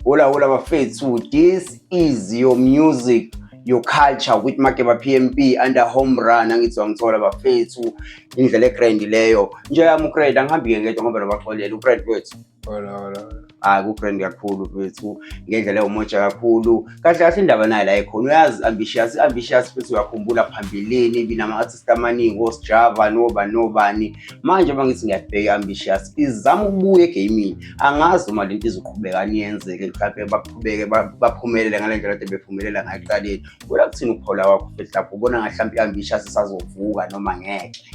Hola hola bafethu, this is your music your culture with Makeba PMP under home run angizwa ngithola bafethu indlela egrand leyo nje yami ugrand angihambi ke ngedwa ngoba nobaxolela ugrand wethu hola hola hayi kugrand kakhulu bafethu ngendlela ewumoja kakhulu kahle kahle indaba nayo la ikhona uyazi ambitious ambitious futhi uyakhumbula phambilini ibinama artist amaningi osjava noba nobani manje uma ngithi ngiyabheka ambitious izama ukubuya egaming angazi uma lento izoqhubeka niyenzeke mhlawumbe baqhubeke baphumelele ngale ndlela kade bephumelela ngayo ekuqaleni kuya kuthini ukuphola wakho fethlapho ubona ngathi mhlawumbe i-ambitious isazovuka noma ngeke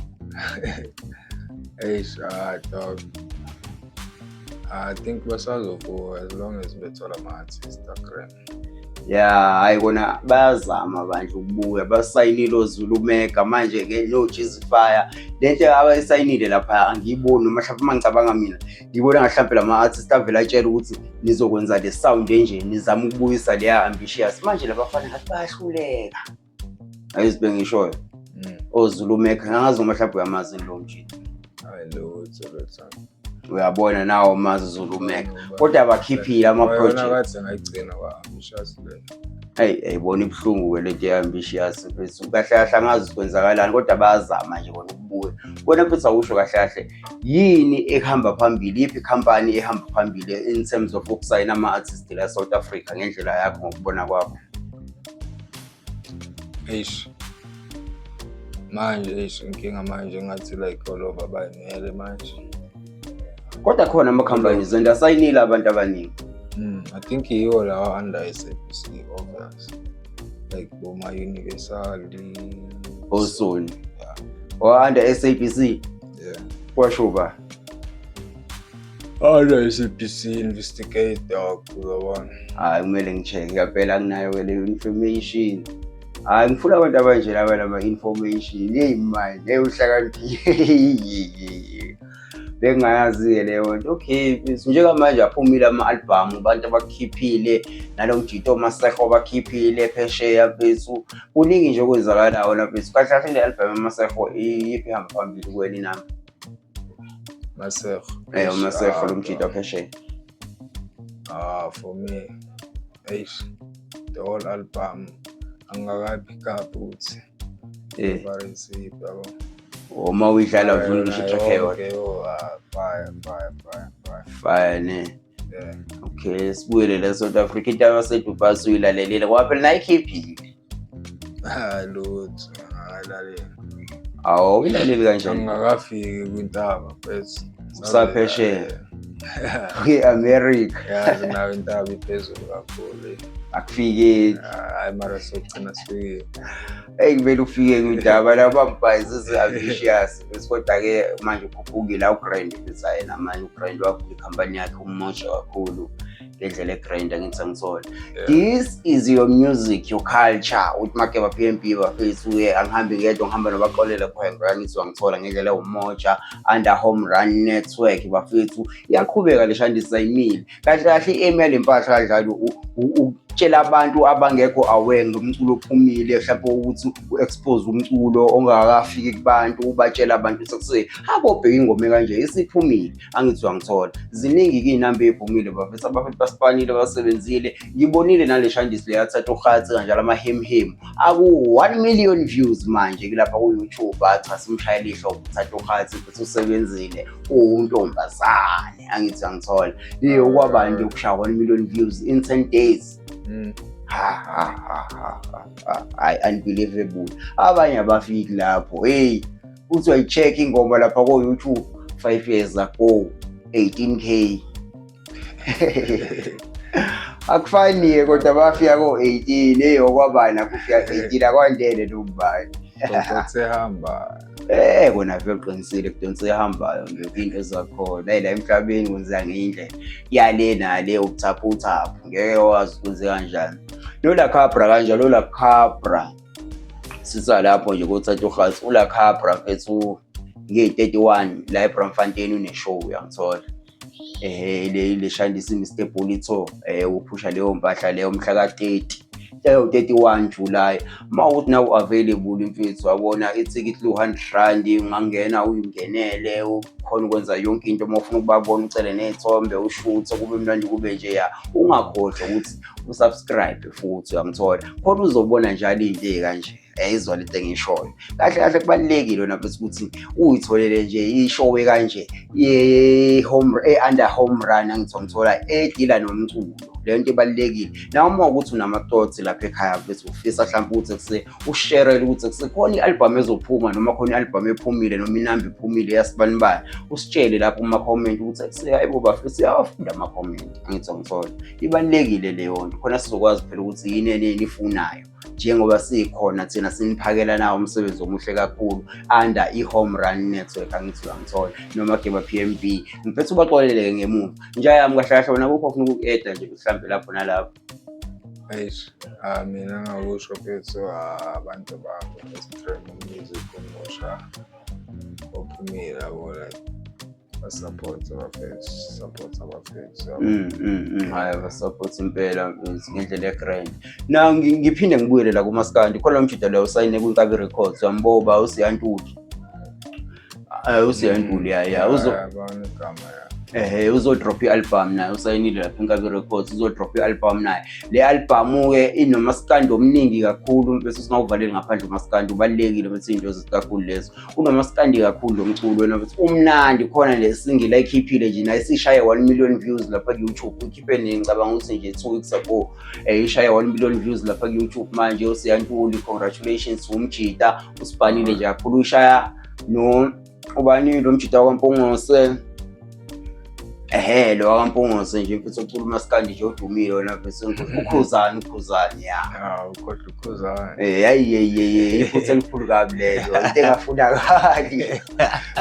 eish ah dog I think basazobuka as long as bethola ama-Instagram. Yeah, hayi kona bayazama bandla ukubuya basayinile oZulu Mega manje ke no Jesus Fire lento abayisayinile lapha angiyiboni noma mhlawumbe uma ngicabanga mina ngibona ngahlawumbe lama artist avela atshela ukuthi nizokwenza le sound enje nizama ukubuyisa leya ambitious manje labafana ngathi bayahluleka ayizibe ngishoyo mm. ozulu mekha angazi noma mhlawumbe uyamazi lo mjita uyabona nawo mazi zulu mekha kodwa abakhiphile amaproject eyi ayibona ibuhlungu-ke lento ye-ambitious mfethu kahle kahle angazi kwenzakalani kodwa bayazama nje kona ukubuya kona mfethu awusho kahle kahle yini ehamba phambili yiphi ikhampani ehamba phambili in terms of ukusayina ama-artist la south africa ngendlela yakho ngokubona kwakho Eish. Manje eish inkinga manje ngathi like all over by ngele manje. Kodwa khona ama companies zonto asayinile abantu abaningi. Mm, I think yiwo lawa under SABC obvious. Like Boma Universal, Osoni. Yeah. Or under SABC. Yeah. Kwasho ba. Alright, SAPC investigate dog uyabona. Hayi kumele ngicheke kaphela anginayo ke leyo information. Hayi ngifuna abantu abanje laba lama information. Hey man, hey uhlakaniphile. Bengayazi ke leyo nto. Okay, njengamanje aphumile ama album abantu abakhiphile nalo mjito maseho bakhiphile phesheya bethu. Kuningi nje okwenzakalayo lapha. Kahle kahle le album maseho iphi hamba phambili kweli nami. Masego. Eh uMasego lo mjita phesheya. Ah for me. Eish. The whole album angakabi kabi uthi. Eh. Barisi babo. Uma uyidlala vuna ngisho track eyodwa. Fire fire fire fire. Fire ne. yeah. okay sibuyele la south africa into yabasedubai suyilalelile ngoba phela nayikhiphile lutho ngalalela awu uyilaleli kanjani ngingakafiki kwintaba bese usaphesheya kwi-america yazi nayo intaba iphezulu kakhulu akufikeki hayi mara sokugcina sifikile eyi kumele ufike kwindaba laba mbhayizi zi-ambitious bese kodwa-ke manje ukhuphukile awugrind pizza yena manje ugrind wakho ikhampani yakhe umosha kakhulu ngendlela egrind angithi sangisole this is your music your culture uthi make ba-p m b bafethu uye angihambi ngedwa ngihamba nobaxolele khwengo angithi wangithola ngendlela ewumoja under home run network bafethu iyaqhubeka le shandisa imile kahle kahle i-aim yale mpahla kanjalo ukutshela abantu abangekho aware ngomculo ophumile mhlawumbe ukuthi u-expose umculo ongakafiki kubantu ubatshela abantu sekuse habo bheka ingome kanje isiphumile angizwa ngithola ziningi kiyinamba ephumile bafethu abafethu basipanile basebenzile ngibonile nale shandis leyathatha uhatsi kanjalo amahemhemu aku-1 million views manje kulapha ku-youtube acha simshayela ihlobo uthatha uhatsi futhi usebenzile uwuntombazane angithi angithola iye ukwaba nje ukushaya 1 million views in 10 days mm. hayi unbelievable abanye abafiki lapho hey uthi wayi-check ingoma lapha ko-youtube 5 years ago 18k akufaniye kodwa bafika ko-18 eyi okwabani akufika 18 akwandele nobani ehamba Eh kona vele uqinisile kudonsa ehambayo nje into ezakhona hey la emhlabeni kwenzeka ngendlela yale nale ubuthapha uthapha ngeke wazi kwenze kanjani lola khabra kanje lola khabra sisa lapho nje kothatha ugazi ula khabra mfethu ngiyi-31 la ebramfontein uneshow uyangithola eh le lishandisa iMr Bolitho eh uphusha leyo mpahla leyo mhla ka 30 leyo 31 July uma uthi nawu available mfethu wabona ithikithi lu 100 rand ungangena uyingenele ukhona ukwenza yonke into uma ufuna ukubabona ucele nezithombe ushuthe kube mnandi kube nje ya ungakhohlwa ukuthi usubscribe futhi uyangithola khona uzobona njalo into kanje yayizwa lento engiyishoyo kahle kahle kubalulekile wena futhi ukuthi uyitholele nje ishowe kanje ye-home e-under home run angithiwa ngithola edila nomculo le nto ibalulekile nawe uma ukuthi unamathoughts lapha ekhaya futhi ufisa mhlawumbe ukuthi kuse usherele ukuthi kusekhona i-albhamu ezophuma noma khona i-albhamu ephumile noma inamba ephumile yasibanibani usitshele lapho kuma-comment ukuthi kuseyayibo bafisa uyawafunda ama-comment angithiwa ngithola ibalulekile leyo nto khona sizokwazi phela ukuthi yini eneni ifunayo njengoba sikhona thina siniphakela nawo umsebenzi omuhle kakhulu under i-home run network angithi uyangithola noma geba p m b ngiphetha ubaxoleleke ngemuva intsha yami kahle kahle wona kukho funa ukuku-eda nje mhlawumbe lapho nalapho eish ah, mina ngakusho phethu ah, abantu bami esitrem music omusha ophumile yabo like support abafethu support abafethu mm, mm, mm. hayi abasupport impela mfethu ngendlela egrand na ngiphinde ngibuyele la kumaskandi khona umjida leyo usayine kwinkabi records wamboba usiyantuli eh, usiyantuli ya ya uzo ehe uzodrop i-album naye usayinile lapha inkabi records uzodrop i-album naye le albhamu-ke inomasikandi omningi kakhulu bese singawuvaleli ngaphandle umasikandi ubalulekile bese iy'nto zikakhulu lezo unomaskandi kakhulu lo mculo wena ukuthi umnandi khona le single ayikhiphile nje naye sishaye 1 million views lapha ku-youtube uyikhiphe nini ngicabanga ukuthi nje two weeks ago um ishaye 1 million views lapha ku-youtube manje usiyantuli congratulations umjita usibhanile nje kakhulu ushaya no ubani lo mjita wampungose ehe lo wakampunguze nje mfethu okhuluma sikanje nje odumile wena mfethu ukhuzani ukhuzani ya hawu kodwa ukhuzani eh hayi yeyeyi iphutha elikhulu kabi leyo into engafunakali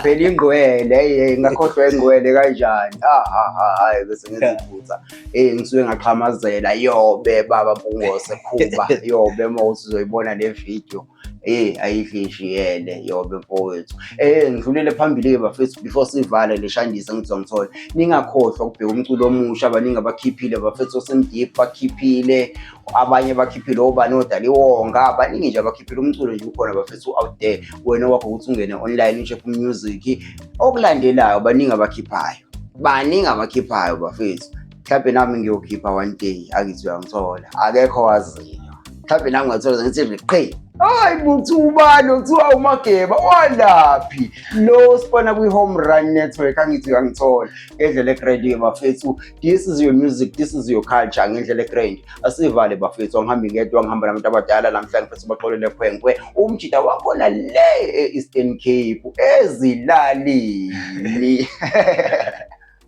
phela ingqwele hey ngakhohlwa ingqwele kanjani ha ha ha hayi bese ngenza iphutha eh ngisuke ngaqhamazela yobe baba mpunguze khuba yobe uma uzoyibona le video eyi ayihishiyele yobe mfowethu eh ngidlulele phambili-ke bafethu before sivale le shandise ngizwa ngithole ningakhohlwa ukubheka umculo omusha abaningi abakhiphile bafethu osemdip bakhiphile abanye bakhiphile obani odaliwonga baningi nje abakhiphile umculo nje ukhona bafethu u-out there wena wakho ukuthi ungene online ucheck music okulandelayo baningi abakhiphayo baningi abakhiphayo bafethu mhlawumbe nami ngiyokhipha one day akithi uyangithola akekho waziyo mhlawumbe nami ngathola ngithi liqhe hayi buthi ubani okuthiwa umageba walaphi lo sibona kwi-home run network angithi uyangithola ngendlela egradiyo bafethu this is your music this is your culture ngendlela egrand asivale bafethu angihambi ngedwa ngihamba nabantu abadala namhlanje futhi baxolele khwenkwe umjita wakhona le e-eastern cape ezilalini